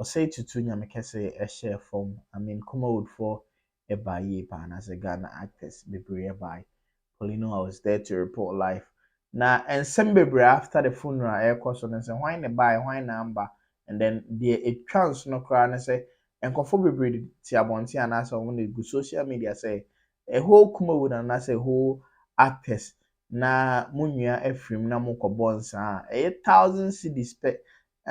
ɔsɛe tutu nyame kɛse ɛhyɛɛ fam I mean Kumawood foɔ ɛbaa yie paa anaasɛ Ghana actors bebree ɛbae Paulino I was there to report live na nsɛm bebree after the funeral ɛɛkɔ so no sɛ hwan na ɛbaeɛ hwan na amba and then deɛ ɛtwa nsono koraa ne sɛ nkorɔfoɔ bebree de te abɔnten anaasɛ wɔn de gu social media sɛ A whole Kumawu na anaasɛ a whole actors na mo nua afirim na mo kɔbɔ nsaa a, ɛyɛ thousand cedis pɛ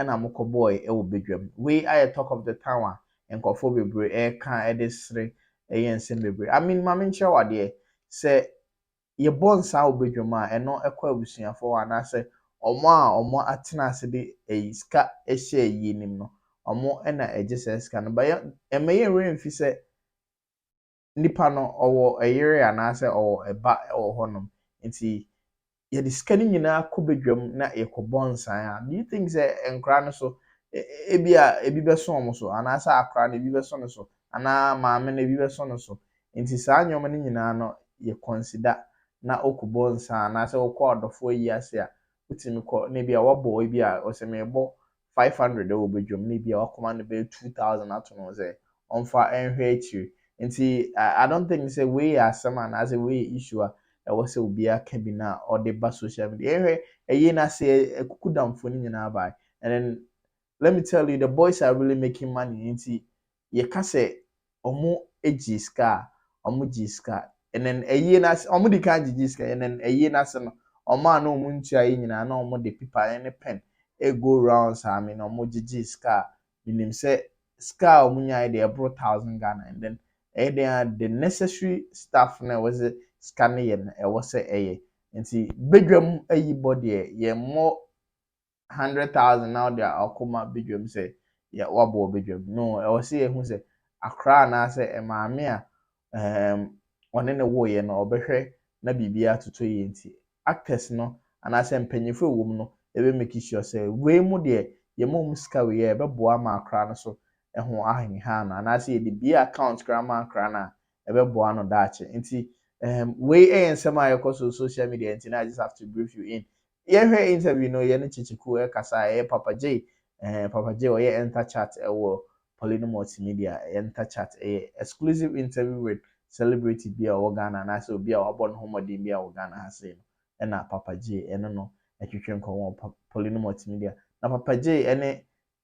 na mo kɔbɔɔe wɔ badwam. Wei ayɛ talk of the town a nkurɔfoɔ bebree ɛreka de sere yɛ nsɛm bebree. I mean, ma menkyerɛ wo adeɛ, sɛ yɛbɔ nsaa wɔ badwam a, ɛno kɔ abusuafoɔ hɔ anaasɛ wɔn a wɔn atena ase de ayi sika ahyɛ ayie anim no, wɔn na ɛgye saa sika no. But yɛ, ɛmma yɛn werɛ mfi sɛ, nipa no ɔwɔ yere anaasɛ ɔwɔ ba wɔ hɔnom nti yɛde sika no nyinaa kɔ badwam na yɛkɔbɔ nsan a, do you think sɛ nkwadaa no so ebi a ebi bɛso wɔn so anaasɛ akwadaa no ebi bɛso no so anaa maame no ebi bɛso no so nti saa nneɛma no nyinaa no yɛ consider na ɔkɔbɔ nsan anaasɛ ɔkɔ adɔfoɔ ayi ase a wotumi kɔ na ebi a wabɔ ebi a ɔsɛ mebɔ five hundred wɔ badwam na ebia wakoma no bɛyɛ two thousand ato no sɛ ɔmfa nhwɛ akyiri nti I don't think sɛ wei yɛ asɛm anaasɛ wei yɛ issue a ɛwɔ sɛ obiara ka bi na ɔde ba social media yɛhwɛ ɛyɛ na sɛ ɛkuku damfo no nyinaa bae and then let me tell you the boys are really making money nti yɛka sɛ wɔgyee sika a, wɔgyee sika. Ɛnam ayie no ase, wɔdii kan gyegyee sika. Ɛnam ayie no ase no, wɔn a na wɔn ntua ayie nyinaa, na wɔde pepa ne pɛn go round saa, meaning wɔgyegyee sika a, menim sɛ sika a wɔnyaeɛ deɛ ɛboro thousand Ghana. And then ɛyɛ dɛn ara the necessary stuff no a ɛwɔ sɛ sika no yɛ no, ɛwɔ sɛ ɛyɛ. Nti badwam ayibɔ deɛ, yɛmmɔ hundred thousand na ɔde akɔ ma badwam sɛ yɛ wabɔ wɔ badwam no ɛwɔ sɛ yɛhu sɛ akora anaasɛ maame a um, ɔne ne woeɛ no ɔbɛhwɛ na biribi atoto yie nti actors no anaasɛ mpanyinfo a ɛwom no ɛbɛ make sure sɛ wei mu deɛ yɛma wɔn sika wei a ɛbɛboa ma akora no so ɛho ahenha no anaasɛ yɛde bie account koraa ma akora no a ɛbɛboa no daakye nti um, wei ɛyɛ nsɛm a yɛkɔ so social media nti na I just have to brief you in Yɛn hwɛ interview no yɛne Kyekyeku ɛkasa a ɛyɛ Papa Jay ɛɛ Papa Jay ɔyɛ Enter Chat ɛwɔ Polino Multimedia Enter Chat ɛyɛ exclusive interview with celebrity bi a ɔwɔ Ghana anaasɛ obi a wabɔ ne ho mmɔden bi a wɔ Ghana ha sei no ɛna Papa Jay ɛne no ɛtwetwe nkɔmɔ wɔ Polino Multimedia na Papa Jay ɛne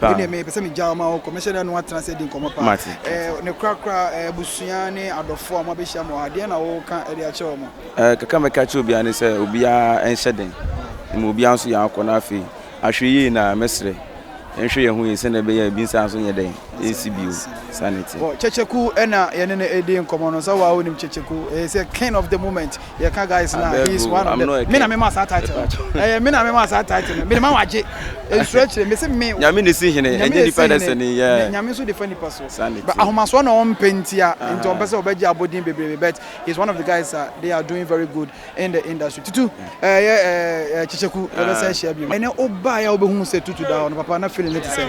Paa. Wodeɛ mepɛ sɛ megya wo ma wokɔ. Mɛhyɛ da ne wo atena ase adi nkɔmmɔ paa. Mate. Eh, ne korakora eh, abusua ne adɔfoɔ a moabɛhyia mo ha, deɛ na woka de akyerɛ wɔn? Eh, kakra a mɛka akyerɛ obiara ne sɛ obiara nhyɛ den. Mmom obiara nso yɛ akɔ na afei ahwɛ yie na mɛsrɛ yɛnhwɛ yɛn ho yie sɛdeɛ ɛbɛyɛ a ebi nsa nso nyɛ dɛn nsi bio. Saa na ɛteɛ. Wɔ Kyɛkyɛku na yɛne no redi nkɔmmɔ no. Sɛ wo a wonim Kyɛkyɛku, he is a king of the moment. Yɛka guys no a, he is one of them. Me na mema saa title no. Ɛyɛ me na mema saa title no. Mede ma wo agye. Nsuro akyire. Mese me. Nyame na esi hene. Ɛnyɛ nipa na esi hene. Nyame nso de fa nipa so. But ahomasoɔ na ɔmpɛ ntia. Nti ɔmpɛ sɛ ɔbɛgye abɔdin bebrebe. But he is one of the guys a they are doing very good in the industry. Tutu, ɛyɛ kyekyeku yɛbɛsɛ ahyia bio. Ɛnɛ wobaeɛ a wobɛhu sɛ Tutu da hɔ no, papa na feeling no te sɛn?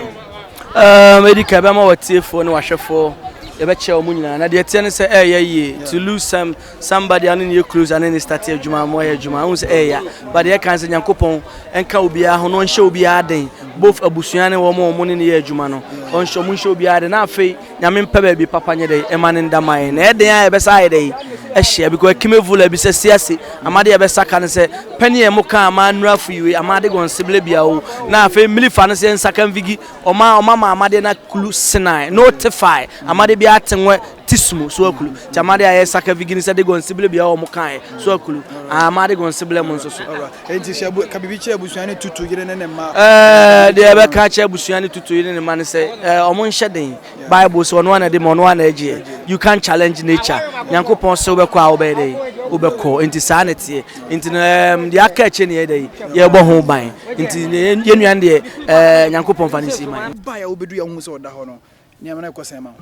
Ɛdi ka ɛbɛma w'atiefoɔ ne w'ahwɛfoɔ yɛbɛkyerɛ wɔn nyinaa na deɛ ɛteɛ ne sɛ ɛreyɛ yie to lose some Somebody ano ne yɛ close ano ne start adwuma ama ɔyɛ adwuma ahu sɛ ɛyɛ but yɛ kan sɛ Nyankopɔn ɛnka obiara ho na ɔnhyɛ obiara den both abusua ne wɔn wɔn ne ne yɛ adwuma no ɔnhyɛ ɔmo nhyɛ obiara den na afei Nyame mpɛ baabi papa nyɛ dɛ ɛma ne nda man na ɛden a ɛbɛsa ayɛ dɛ ɛhyɛ because ɛkime vula bi sɛ si ase ama de ɛbɛsa ka ne sɛ pɛni yɛ mo ka ama nura fo yiwe ama de gɔn sebele bia o na afei mmiri fa ne sɛ nsaka mvigi ɔma ɔma ma ama de na kulu senai no te fae ama de bia te nwɛ Ti sumo so akulu ti amade a ɛyɛ saka vigini sɛ de gɔnsibile bia wɔn kaeɛ so akulu amade gɔnsibile mu nso so. Enti hyɛ bu ka biribi kyerɛ abusua ne tutu yere ne ne mma. Ɛɛ deɛ ɛbɛka kyerɛ abusua ne tutu yere ne mma ne sɛ ɛɛ wɔn nhyɛ den bible sɛ ɔno ana de ma ɔno ana agyeɛ you can challenge nature nyankopɔn sɛ wobɛkɔ a wobɛyɛ dɛ wobɛkɔ nti saa na ɛteɛ nti no ɛɛm deɛ aka akyire ne yɛ dɛ yɛbɔ ho ban nti yɛn nua deɛ ɛɛ nyankopɔn fa ne si man. Ba yɛ wobɛdu yɛ ho sɛ ɔda hɔ no nneɛma no ɛkɔ sɛn ma wo.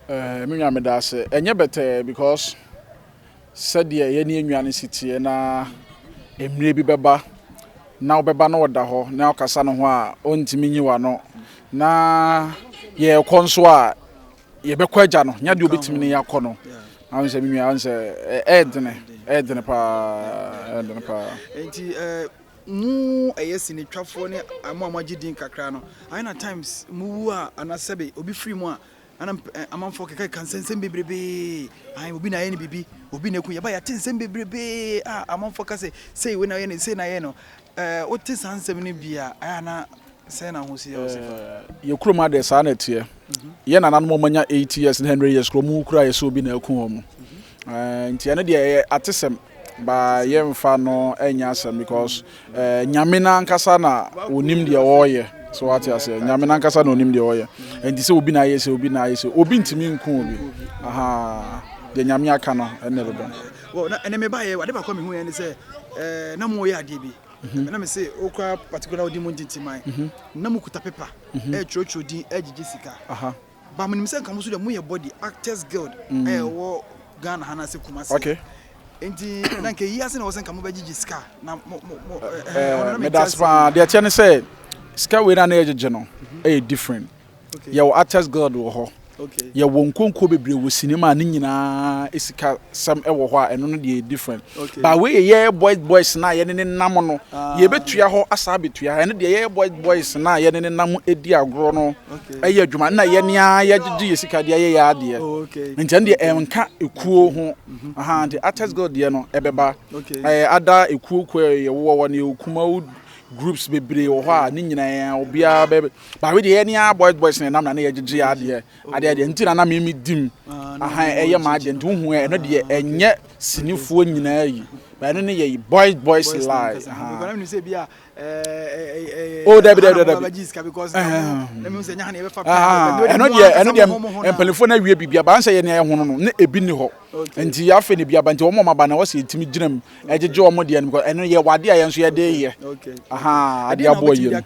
Eh me nua meda ase. Ɛnyɛ bɛtɛɛ because sɛdeɛ yɛne yɛn nua no si teɛ na mmerɛ bi bɛba na wobɛba na ɔda hɔ na wokasa ne ho a ɔntumi nyi w'ano na yɛrekɔ nso a yɛbɛkɔ agya no nya deɛ ɔbɛtumi ne yɛakɔ no ahun sɛ me nua ahun sɛ ɛyɛ dene ɛyɛ dene paa ɛyɛ dene paa. nti ɛɛ mu ɛyɛ sinitwafoɔ ne mo a moagye din kakra no ayɛ na times mu wu a anasɛbe obi firi mu a Ana amanfoɔ kekaka nsɛm nsɛm bebrebee ahan obi na ayɛ no biribi obi na eku yɛba yɛate nsɛm bebrebee a amanfoɔ ka sɛ sei wei na ayɛ no sei na ayɛ no ɛɛ wote saa nsɛm no bi a ɛyɛ ana sɛn na ahosi yɛ ɔsi fa. yɛ kurom ha deɛ saa na ɛteɛ yɛ nananom ɔmo anya eighty years ne hundred years kura ɔmo kura yɛ sɛ obi na eku wɔn ɛɛ nti ɛno deɛ ɛyɛ atesɛm but yɛnfa no ɛnyɛ asɛm because eh, nyame no ankasa na onim deɛ ɔreyɛ so wate aseɛ nyame no ankasa na onim deɛ ɔreyɛ ɛnti sɛ obi na ayɛ sɛ obi na ayɛ sɛ obi ntumi nko obi aha deɛ nyame aka no ɛnna ɛbɛba well na ɛnɛ meba yɛ ade baako a mehu yɛ ne sɛ eh, na mo yɛ adeɛ bi mhm. na me se okura particular odi mu ntintiman mhm. na mo kuta paper ɛtwerɛtwerɛ mhm. eh, din ɛgyegye eh, sika Ba menim sɛ nka mo nso deɛ moyɛ body actors guild mm. a ɛwɔ Ghana ha na sɛ Kumasi. Okay. Nti na nka yi ase na wɔsɛ nka mobɛgyegye sika na mo mo mo ɛɛ eh, eh, eh, medase paa deɛ ɛteɛ ne sɛ sika wei na na yɛgyegye no mhm. ɛyɛ different. Okay. Yɛwɔ actors guild wɔ hɔ. Okay. Yɛwɔ nkonko bebree wɔ sinima ne nyinaa sika sɛm ɛwɔ hɔ a ɛno no deɛ different. But wei yɛ yɛyɛ boys boys na yɛne ne nam no yɛbɛtua hɔ asa abɛtua ɛno deɛ yɛyɛ boys boys na yɛne ne nam ɛdi agorɔ no ɛyɛ adwuma na yɛne a yɛgyegye yɛ sika deɛ yɛyɛ adeɛ oh, nti ɛno deɛ ɛnka ɛkuo ho aha nti artist girl deɛ no ɛbɛba ɛyɛ ada ɛkuo kuo yɛwowɔ wɔ ne ɛkuma wo groups bebree wɔ hɔ a ne nyinaa obiara bɛ but wei deɛ yɛne a boys boys na ɛnam na ne yɛgyegye adeɛ adeɛ adeɛ nti na na meme dim aha ɛyɛ maa deɛ nti wohu ɛno deɛ ɛnyɛ Sinifoɔ nyinaa yi ba ɛno ne yɛyi boys boys lie o dabi dabi dabi ɛno deɛ ɛno deɛ mpanyinfoɔ na awie biribi abansɛ yɛ nea ɛhono no ne ebi ni hɔ nti yɛ afei ne bi aba nti wɔn wɔn aba na wɔsi etimi gyina mu ɛgyegye wɔn deɛ no because ɛno yɛ wade a yɛn nso yɛde yɛ ahaa adeɛ aboɔ yie no.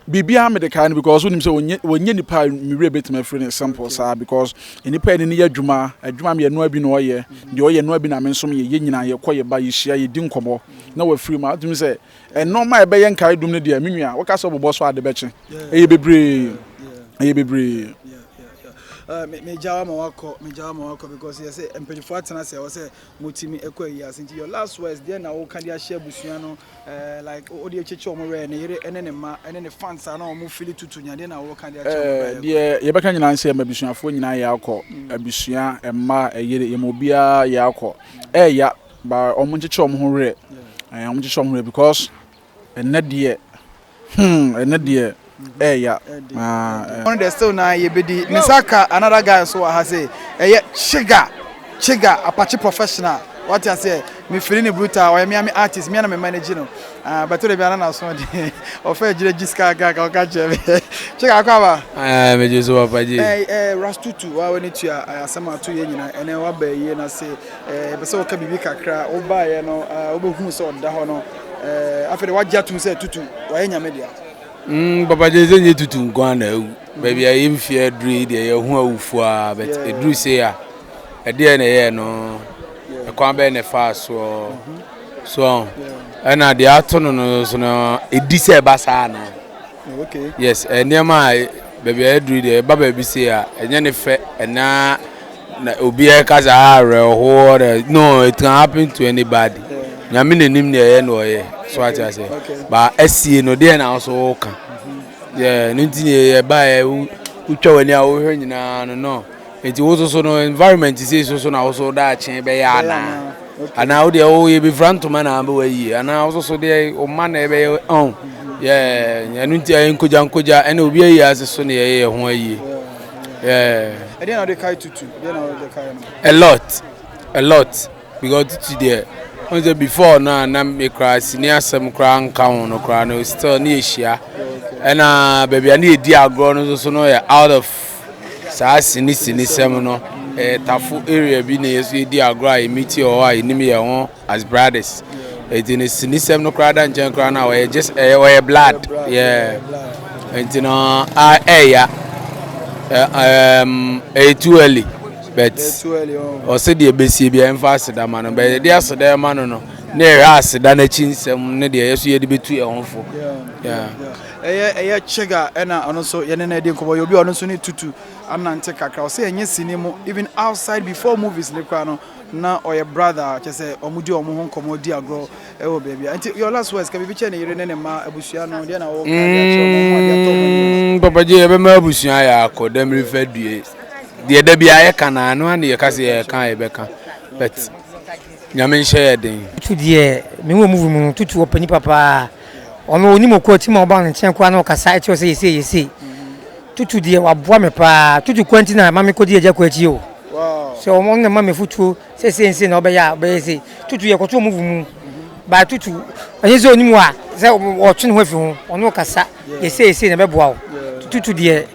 Biribiara mede kae no because wonim sɛ ɔnyɛ ɔnyɛ nipa a me werɛ bɛtumi afiri ne simple saa because nnipa yɛne no yɛ adwuma adwuma mmienu a bi na ɔyɛ deɛ ɔyɛ no a bi na me nso meyɛ yɛn nyinaa yɛkɔ yɛba yɛhyia yɛdi nkɔmmɔ na wafiri mu a wotumi sɛ nnoɔma a ɛbɛyɛ nkaedum no deɛ me nua woka sɛ wobobɔ so ade bɛkye ɛyɛ bebree ɛyɛ bebree. megyawa ma wakɔ megyawa ma wakɔ because yɛ sɛ mpanyinfoɔ atena ase ɛwɔ sɛ motumi kɔ ayi ase nti your last words deɛ na woka de ahyɛ abusua no eh, like wode akyekye wɔn werɛ ne yere ne ne mma ne ne fans a na wɔn fili tutu nya deɛ na woka de akyɛ wɔn eh, deɛ yɛbɛka nyinaa nsɛ ma abusuafoɔ nyinaa yɛ akɔ mm. abusua mma ɛyere yɛma obiara yɛ akɔ ɛya ba wɔn nkyekyɛ wɔn ho werɛ wɔn nkyekyɛ wɔn ho werɛ because Ɛnnɛ deɛ hmm ɛnnɛ deɛ ɛɛya aa. Ɔno deɛ still naa yɛbɛdi. Me nsa ka another guy nso wɔ ha sei, ɛyɛ Chigga, Chigga Apakye professional, wate aseɛ, me fili no brutal, ɔyɛ me ara me artist, me ara na me manage no ah, but wode biara na n'aso ɔden, ɔfa agyina gyi sika kakra ka ɔka kyerɛ me Chigga akɔ aba? Aye, megye so papa G. Eh, eh, Rastutu, waa w'ani tua eh, asɛm a ato yɛ nyinaa, ɛnɛ waba ayie no ase, eh, yɛpɛ sɛ woka biribi kakra, wobaeɛ no, ah, wobɛhuu sɛ ɔda hɔ no, Eh, afei de wagye atum sɛ tutu wayɛ nyame dea. Mm, papa gye sɛ nye tutu nko ara na awu. Mm. Baabi a yɛn fie aduru yi deɛ yɛn ho awufo a, but yeah. eduru se a ɛdeɛ na ɛyɛ no ɛkwan bɛyɛ na ɛfa soɔ mm-hmm. so ɛna deɛ ato no no so no edi sɛ ɛba saa anaa. Okay. Yes, eh, nneɛma a baabi a yɛaduru deɛ ɛba baabi sei a ɛnyɛ ne fɛ ɛnaa na obi ɛka sɛ ah awerɛhoɔ na no it can happen to anybody nyame n'anim deɛ ɛyɛ na ɔyɛ so ate ase ba asie no deɛ na nso woka yɛ no nti ne yɛbaeɛ wotwa w'ani a wohwɛ nyinaa no no Enti wo so so no environment sei so so na wo so daakye bɛyɛ anaa? Anaa wo deɛ wo yɛbɛfira ntoma na abɛwɔ ayie anaa wo so so deɛ wo mma na ɛbɛyɛ ɔn yɛ ɛno nti ayɛ nkogya nkogya ɛna obi ayie ase so na yɛyɛ ho ayie. Ɛdeɛ na wode kae tutu? A lot, a lot. Because titi deɛ ɔn sɛ before no a na me koraa sini asɛm koraa nka ho no koraa no still ne yɛhyia ɛna baabi a ne yɛdi agorɔ no nso so no yɛ out of saa sini sini sɛm no ɛyɛ tafo area bi na yɛso yɛdi agorɔ a yɛmiti wɔ hɔ a yɛnim yɛ ho as brothers ɛti no sini sɛm no koraa da nkyɛn koraa no a wɔyɛ just ɛyɛ wɔyɛ blood yɛ ɛnti no ɛyɛ ɛyɛ too early but ɔsɛ deɛ bɛsie bia ɛmfa aseda ma no bɛ yɛde aseda ɛma no no na ɛhwɛ aseda no akyi nsɛm ne deɛ yɛso yɛde bɛtu yɛn ho fo ɛyɛ ɛyɛ kyega ɛna ɔno nso yɛne no adi nkɔmmɔ yɛ obi a ɔno nso ne tutu anante kakra ɔsɛ ɛnyɛ sini mu even outside before movies ne koraa no na ɔyɛ brother kyɛ sɛ ɔmodi ɔmo ho nkɔmmɔ di agorɔ Ɛwɔ baabi a. Nti your last words ka biribi kyerɛ ne yere ne ne mma, abusua no, deɛ na wɔka de akyerɛ wɔn, wɔn a de atɔ wɔn anim no. Mm, Papa Gye, yɛbɛma abusua ayɛ akɔ dɛm refa due. Deɛ da biara yɛka no ara no ara na yɛka sɛ yɛka a yɛbɛka. But Nyame nhyɛ yɛ den. Tutu deɛ me wɔ movie mu no tutu ɔpɛ nipa paa ɔno onim ɔkɔ akyi ma ɔba ne nkyɛn koraa na ɔkasa ɛkyerɛ sɛ yɛsei yɛsei tutu deɛ waboa me paa tutu kwa nti na ma mekɔdi agya kɔ akyi o sɛ ɔmo na ma me futuo Sɛ sei nse na ɔbɛyɛ a ɔbɛyɛ sei. Tutu yɛ kɔto ɔmo vu mu. Ba tutu ɔnye sɛ ɔnim wa sɛ ɔtwe ne ho afi ho ɔno ɔkasa yɛ sei yɛ sei na ɛbɛboa wo. Tutu deɛ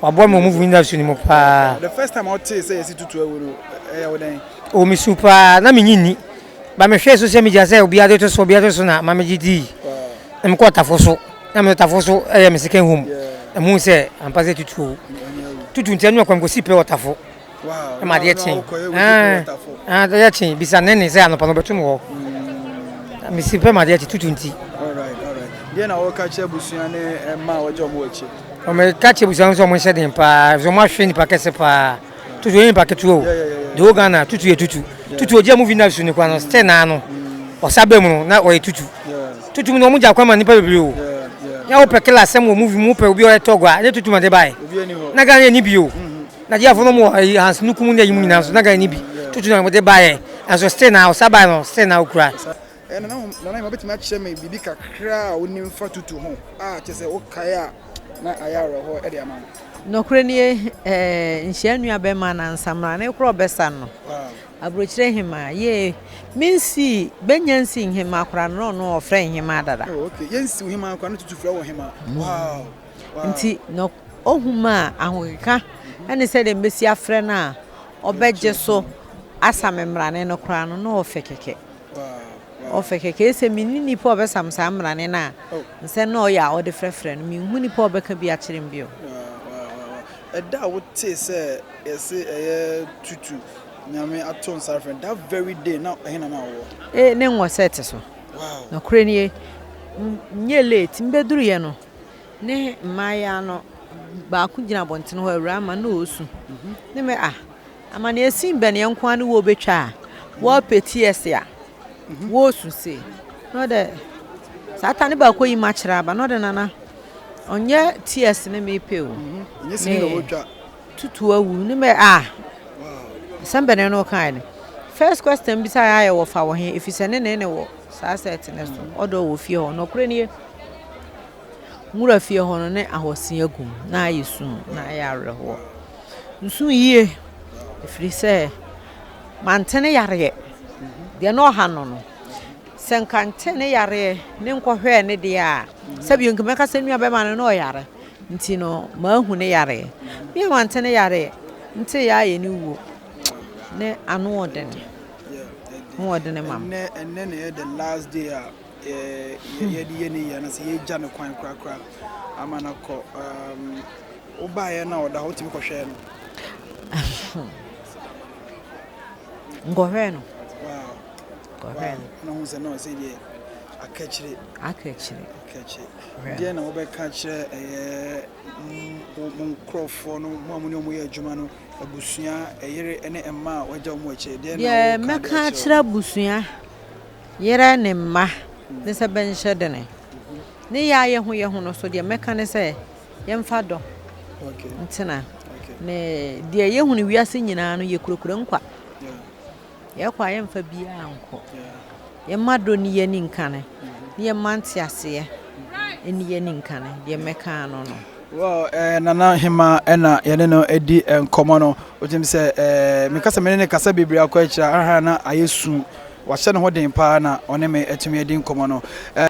waboa me wɔ ɔmo vu nyina su no mu paa. The first time a ɔtee sɛ yɛsi tutu awu no ɛyɛ wo dɛn? Oh me su paa na me nyi nni. Ba me hwɛɛ social media sɛ obiaa de to so obiaa de to so na ma me gye dii. Na me kɔɔ tafo so na me tafo so ɛyɛ me second home na me hu sɛ ampa sɛ tutu awu. Tutu nti ɛno na kɔ me kɔ si pɛ wɔ tafo. na ma adeɛ kye adeɛ kye bisa ne ne sɛ anɔpa no bɛtum hɔ mm. mesi pɛ ma adeɛ kye tutu nti deɛ na wɔka kyerɛ abusua ne ɛma a wɔgye ɔmo akyi wɔmɛka kyerɛ abusua no sɛ ɔmo nhyɛ den paa sɛ ɔmo ahwɛ nipa kɛse paa tutu yɛ nipa ketewa o de wo ghana tutu yɛ tutu tutu ogya mu vi na su ne kwa no stɛ naa no ɔsa bɛ mu no na ɔyɛ tutu tutu mu na ɔmo gya kwan ma nipa bebree o yà wò pɛ kila asɛm wɔ mu vi mu pɛ obi ɔyɛ tɔgwa ne tutu ma de ba yɛ na ghana yɛ ni bi o. Nigeria fo no mo wɔ eh, Hans Nukum ne ayi mu nyinaa nso na Ghana ni bi tutu na wɔde baeɛ nso still na ɔsa baeɛ no still na ɔkura. Eh, nana hom nana hom obetumi akyerɛ me biribi kakra a wonim fa tutu ho a kyerɛ sɛ wokae a na ayɛ awerɛhoɔ de ama wo. Nokorɛ nie eh, nhyia nua bɛma na nsamena ne korɔ bɛsa no aburokyire hemaa yee me nsii bɛnya nsii nhemaa kora no no ɔfrɛ nhemaa dada. Oh okay yɛnsiw hemaa kora no tutu frɛ wɔ hemaa wow. Ntsi na ohu me a, ahokeka ne sɛdeɛ mebɛsi afrɛ no a ɔbɛgye so asa me mmarane no koraa no, na ɔfɛ kɛkɛ. Ɔfɛ kɛkɛ. Ese menni nipa a ɔbɛsa me saa mmarane no a, nsɛ na ɔyɛ a ɔde frɛfrɛ no, menhu nipa a ɔbɛka bi akyerɛ me bio. Ɛda a wotee sɛ yɛse ɛyɛ tutu Nyame ato nsa afrɛ no, that very day na ɛhe na na wowɔ? Ee, ne nwɔ sɛ ɛte so. Nokorɛ nie, menyɛɛ late, mebɛduruiɛ no, ne mmayeaa no baako gyina abɔntene hɔ awura ama na ɔresu. Ne mɛ ah, amaneɛ sin bɛn yɛn nko ara ne wɔbɛtwa a wɔrepɛti ɛse a wɔresu se. Na ɔdɛ saa ta ne baako yi ma kyerɛ aba na ɔdɛ nana ɔnyɛ tears ne mepɛ o. Ɛnyɛ sini na wɔtwa. Tutu awu ne mɛ ah. Asɛm bɛn na ɔka no. First question bisa ayɛ wɔ fa wɔ he efisɛ ne ne ne wɔ saa sɛ ɛtene so ɔdɔ wɔ fie hɔ nɔkorɛ nie. Nwura fie hɔ no, na ahoɔsen agu mu, na ayɛ sum, na ayɛ awerɛhoɔ. Nsu yie, ɛfiri sɛ mante ne yareɛ. Deɛ na ɔha no no, sɛ nka nte ne yareɛ ne nkɔhwɛɛ ne deɛ a, sɛbi nka mɛka sɛ nua bɛma no na ɔyare. Nti no, maahu ne yareɛ. Me a mante ne yareɛ, nte yɛ ayɛ ne wuo. Ne ano ɔdene, ano ɔdene ma me. yɛde yɛ ne yie anaasɛ yɛagya no kwan korakora ama no akɔ wobaeɛ no a ɔda hɔ wotumi kɔhwɛɛ no nkɔhwɛɛ no na hu sɛ na ɔsɛ deɛ akakyire akakyire akakyire deɛ na wobɛka kyerɛ ɛyɛ mo nkurɔfoɔ no mo a mo ne ɔmo yɛ adwuma no abusua ɛyere ne mma a wɔagya ɔmo akyire deɛ na wobɛka kyerɛ abusua Yerɛ ne mma ne sɛ bɛnhyɛ dene. Ne yɛ a yɛhu yɛ ho no so deɛ mɛka ne sɛ yɛmfa dɔ ntena. Ne deɛ yɛhu no wiase nyinaa no yɛkurakura nkwa. Yɛkɔ a yɛmfa biara nkɔ. Yɛma dɔ ni yɛ ni nkane. Ne yɛma nteaseɛ ni yɛ ni nkane. Deɛ mɛka ano no. Well eh, Nana Hemaa ɛna yɛne no adi nkɔmmɔ no wotim sɛ eh, meka sɛ mene ne kasa bebree akɔ akyira aha na ayɛ su wahyɛ ne ho den paa na ɔne me atumi adi nkɔmmɔ no eh,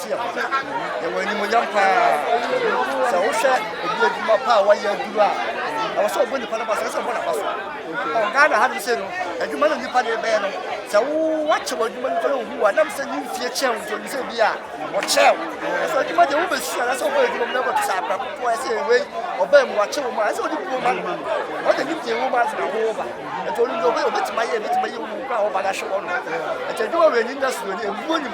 Yɛwɔ animuonyam paa. Sɛ wohwɛ obi adwuma pa a wayɛ aduru a, ɛwɔ sɛ ɔbɔ nipa no ba so, ɛsɛ ɔbɔ n'aba so. Ghana ha no sɛ no, adwuma no nipa de bɛyɛ no, sɛ woakyɛ w'adwuma no kora ohu a, nam sɛ ne mfie kyɛn nti ɔnim sɛ bi a ɔkyɛw. Ɛsɛ adwuma deɛ wobɛsu a, ɛsɛ ɔbɔ adwuma mu na ɛbɛto sɛ akora kokoa, ɛsɛ ɛwei ɔbaa mu wakyɛ wɔ mu a, ɛsɛ ɔde buo ma no. Ɔde ne deɛ wɔ mu asena wo ba. Ɛnti ɔnim deɛ ɔbɛtumi ayɛ, ɛbɛtumi ayɛ wo kora a wo ba no ahwɛ wɔ no. Ɛnti adwuma wei ni na suo ni, ɛbuo nim.